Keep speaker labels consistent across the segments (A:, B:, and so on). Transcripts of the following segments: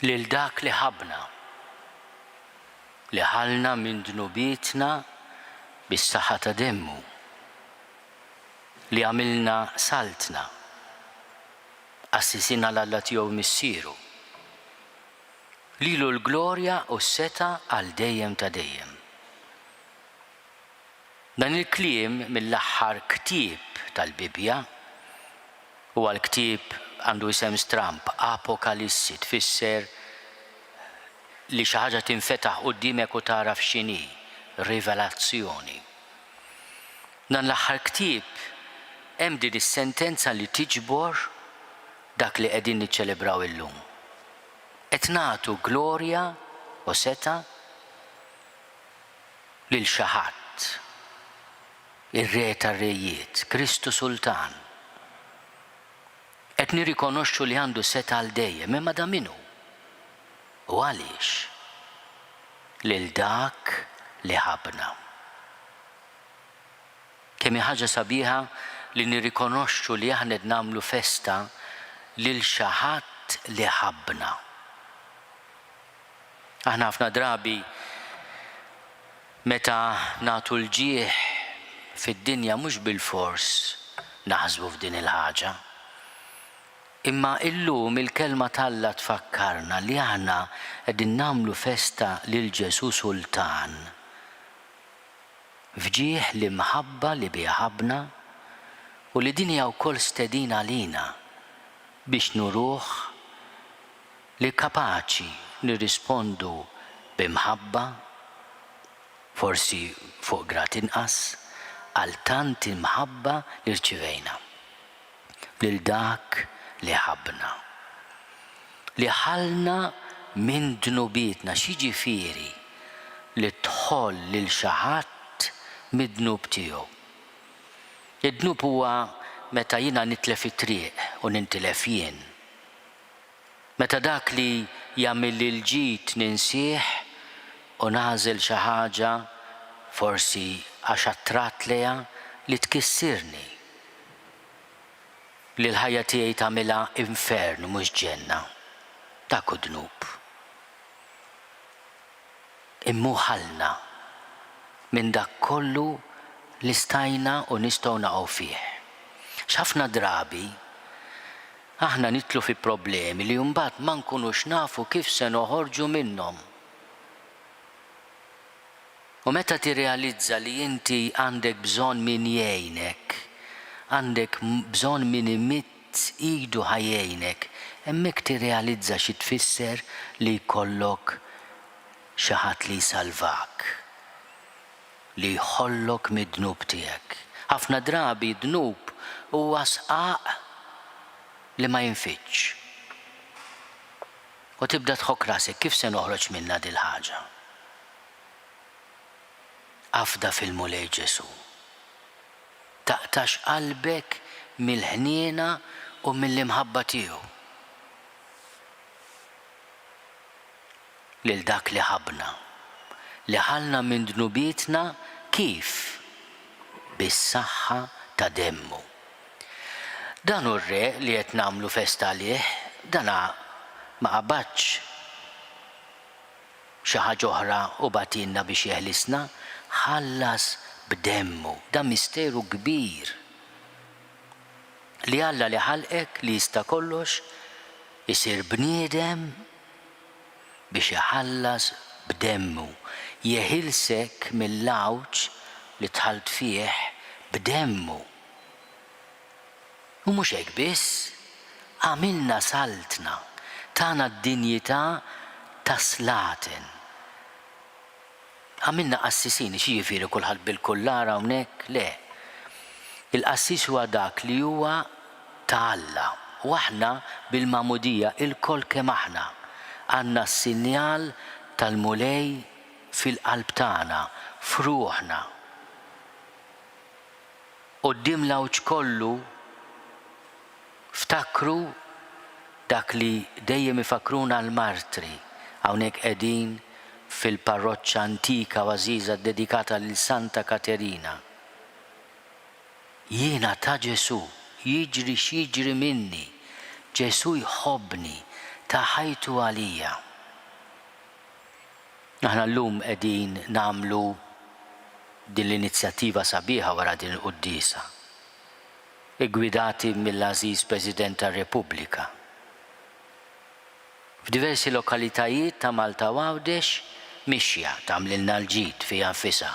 A: lil dak li ħabna li ħalna minn dnubietna bis-saħħa ta' demmu li għamilna saltna assisina l-Alla tiegħu missieru Lilu l-glorja u s-setgħa għal dejjem ta' dejjem. Dan il-kliem mill-aħħar ktieb tal-Bibbja, huwa l-ktieb għandu isem stramb, Apokalissi, tfisser li xi ħaġa tinfetaħ quddiemek u tagħraf x'inhi, rivelazzjoni. Dan l-aħħar ktieb hemm din is-sentenza li tiġbor dak li qegħdin niċċelebraw illum. Qed nagħtu glorja u setgħa lil xi ħadd, ir-Re tar-rejiet, Kristu Sultan. Qed nirrikonoxxu li għandu setgħa għal dejjem, imma dan min hu? U għaliex? Lil Dak li ħabbna. Kemm hi ħaġa sabiħa li nirrikonoxxu li aħna qed nagħmlu festa lil xi ħadd li ħabbna. Aħna ħafna drabi meta nagħtu l-ġieħ fid-dinja mhux bilfors naħsbu f'din il-ħaġa. Imma illum il-Kelma t'Alla tfakkarna li aħna qegħdin nagħmlu festa lil Ġesù Sultan. F'ġieħ l-imħabba li biha ħabbna u li din hija wkoll stedina għalina biex nuruh li kapaċi nirrispondu b'imħabba, forsi fuq grad inqas, għal tant imħabba li rċivejna. lil dak li ħabbna, li ħallna minn dnubietna, x'jiġifieri li tħoll lil xi ħadd mid-dnub tiegħu? Id-dnub huwa meta jiena nitlef it-triq u nintilef jien. Meta dak li jagħmilli l-ġid ninsih u nagħżel xi ħaġa, forsi għax attratt lejha, li tkissirni, li l-ħajja tiegħi tagħmilha infern u mhux ġenna, dak hu dnub. Imma hu ħallna minn dak kollu li stajna u nistgħu naqgħu fih. X'ħafna drabi Aħna nidħlu fi problemi li mbagħad ma nkunux nafu kif se noħorġu minnhom. U meta tirrealizza li inti għandek bżonn min jgħinek, għandek bżonn min imidd idu ħa jgħinek, hemmhekk tirrealizza xi tfisser li jkollok xi ħadd li jsalvak. li jħollok mid-dnub tiegħek. Ħafna drabi d-dnub huwa sqaq li ma jinfidx. U tibda tħokk rasek, kif se noħroġ minnha dil-ħaġa? Afda fil-Mulej Ġesu. Taqtax qalbek mill-ħniena u mill-imħabba tiegħu. lil dak li ħabbna, li ħallna minn dnubietna kif? Bis-saħħa ta' demmu. Dan hu r-Re li qed nagħmlu festa għalih, dana ma qabadx xi ħaġa oħra u bagħtilna biex jeħlisna, ħallas b'demmu. Dan misteru kbir, li Alla li ħalqek, li jista' kollox, isir bniedem, biex iħallas b'demmu, jeħilsek mill-għawġ li dħalt fih b'demmu. U mhux hekk biss, għamilna Saltna, tana d-dinjità ta' slaten. Għamilna qassisin, xi jiġifieri kulħadd bil-kullar hawnhekk? Le. Il-qassis huwa dak li huwa ta' Alla u aħna bil-magħmudija ilkoll kemm aħna għandna s-sinjal tal-Mulej fil-qalb tagħna, f'ruħna, quddiem l-għawġ kollu. Ftakru dak li dejjem ifakkruna l-martri, hawnhekk qegħdin fil-parroċċa antika u għażiża ddedikata lil Santa Katerina. Jiena ta' Ġesù, jiġri x'jiġri minni, Ġesù jħobbni, ta ħajtu għalija. Aħna llum qegħdin nagħmlu din l-inizjattiva sabiħa wara din il-quddiesa. iggwidati mill-għażiż President tar-Repubblika. F'diversi lokalitajiet ta' Malta u Għawdex mixja tagħmlilna l-ġid fiha nfisha,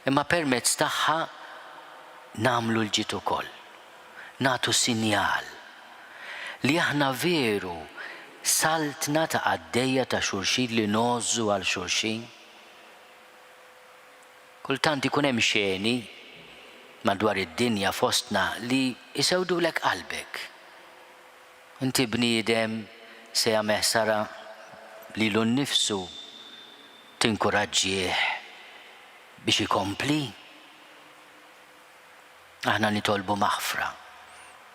A: imma permezz tagħha nagħmlu l-ġid ukoll, nagħtu sinjal li aħna veru saltna ta' qaddejja ta' xulxin li ngħożżu għal xulxin. Kultant ikun hemm xeni madwar id-dinja fostna li jsewdulek qalbek. Inti bniedem se jagħmeh sara lilu nnifsu, tinkuraġġih biex ikompli? Aħna nitolbu maħfra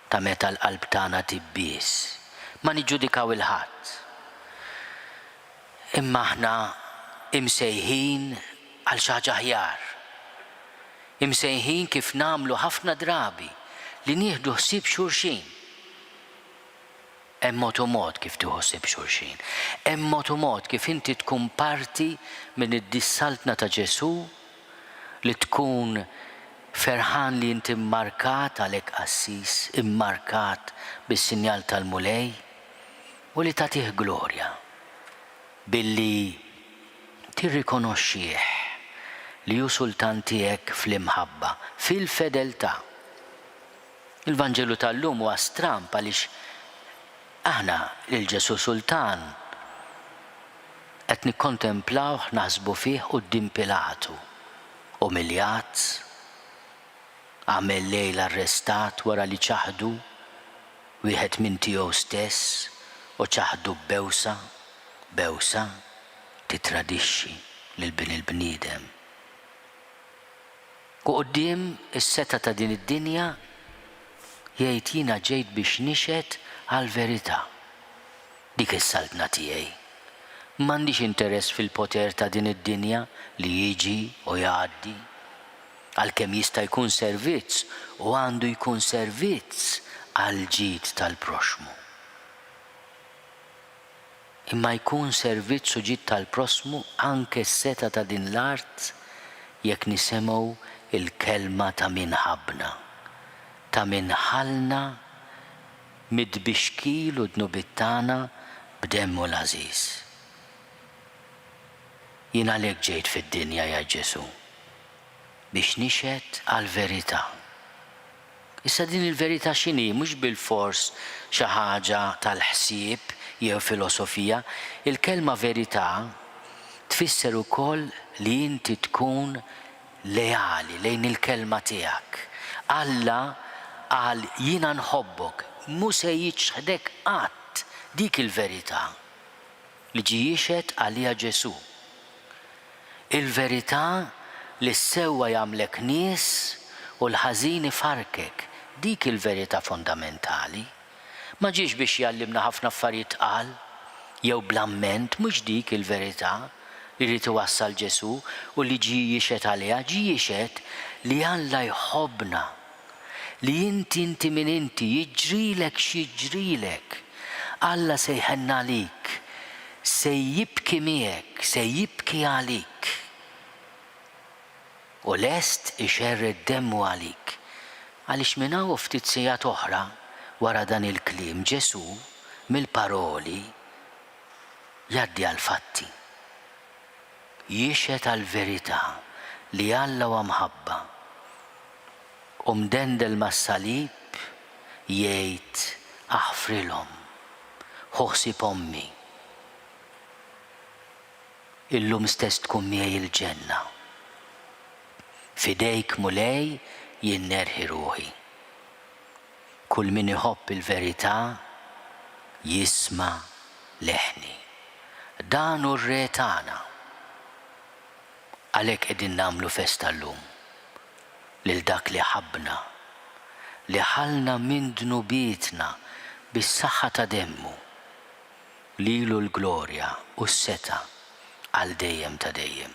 A: ta' meta l-qalb tagħna tibbies. Ma niġġudikaw 'il ħadd. Imma aħna imsejħin għal xi ħaġa aħjar. Imsejħin kif nagħmlu ħafna drabi li nieħdu ħsieb xulxin. Hemm mod u mod kif tieħu ħsieb xulxin. Hemm mod u mod kif inti tkun parti minn id-dissaltna ta' Ġesù li tkun ferħan li inti mmarkat għalhekk qassis, immarkat bis-sinjal tal-Mulej, u li tagħtih glorja billi tirrikonoxxih li hu sultan tiegħek fl-imħabba, fil-fedeltà. Il-Vanġelu tal-lum huwa stramb għaliex aħna lil Ġesù Sultan qed nikkontemplawh, naħsbu fih quddiem Pilatu, umiljat, għamel lejl arrestat wara li ċaħdu wieħed minn tiegħu stess u ċaħdu b'bewsa, bewsa tittradixxi lil Bin il-bniedem. Quddiem is-setgħa ta' din id-dinja, jgħid, jiena ġejt biex nixhed għall-verità. Dik hi s-saltna tiegħi. M'għandix interess fil-poter ta' din id-dinja li jiġi u jgħaddi. Għalkemm jista' jkun servizz u għandu jkun servizz għall-ġid tal-proxxmu. imma jkun servizz u ġid tal-prossmu anke s-setgħa ta' din l-art jekk nisemgħu l-kelma ta' min ħabbna, ta' min ħallna mit-tbixkil u dnubiet tagħna b'Demmu l-għażiż. Jien għalhekk ġejt fid-dinja, jgħid Ġesù, biex nixhed għall-verità. Issa din il-verità x'inhi? Mhux bilfors xi ħaġa tal-ħsieb jew filosofija. Il-kelma verità tfisser ukoll li inti tkun leali lejn il-kelma tiegħek. Alla qal jiena nħobbok, mhu se jiċħdek qatt, dik il-verità. li ġie jixhed għaliha Ġesù, il-verità li s-sewwa jagħmlek nies u l-ħażin ifarrkek, dik hi l-verità fondamentali. Ma ġiex biex jgħallimna ħafna affarijiet tqal jew bl-amment, mhux dik hi l-verità li ried iwassal Ġesù u li ġie jixhed għaliha. Ġie jixhed li Alla jħobbna li inti inti min inti, jiġrilek x'jiġrilek, Alla se jħenn għalik, se jibki miegħek, se jibki għalik u lest ixerred demmu għalik. Għaliex minn hawn u ftit sigħat oħra wara dan il-kliem Ġesù mill-paroli jgħaddi għall-fatti. Jixhed għall-verità li Alla huwa mħabba. u mdendel mas-salib jgħid aħfrilhom, ħu ħsieb ommi, illum stess tkun miegħi il-ġenna. F'idejk Mulej jien nerħi ruħi. Kull min iħobb il-verità jisma' leħni. Dan hu r-Re tagħna. Għalhekk qegħdin nagħmlu festa llum lil dak li ħabbna, li ħallna minn dnubietna bis-saħħa ta' demmu. Lilu l-glorja u s-setgħa għal dejjem ta' dejjem.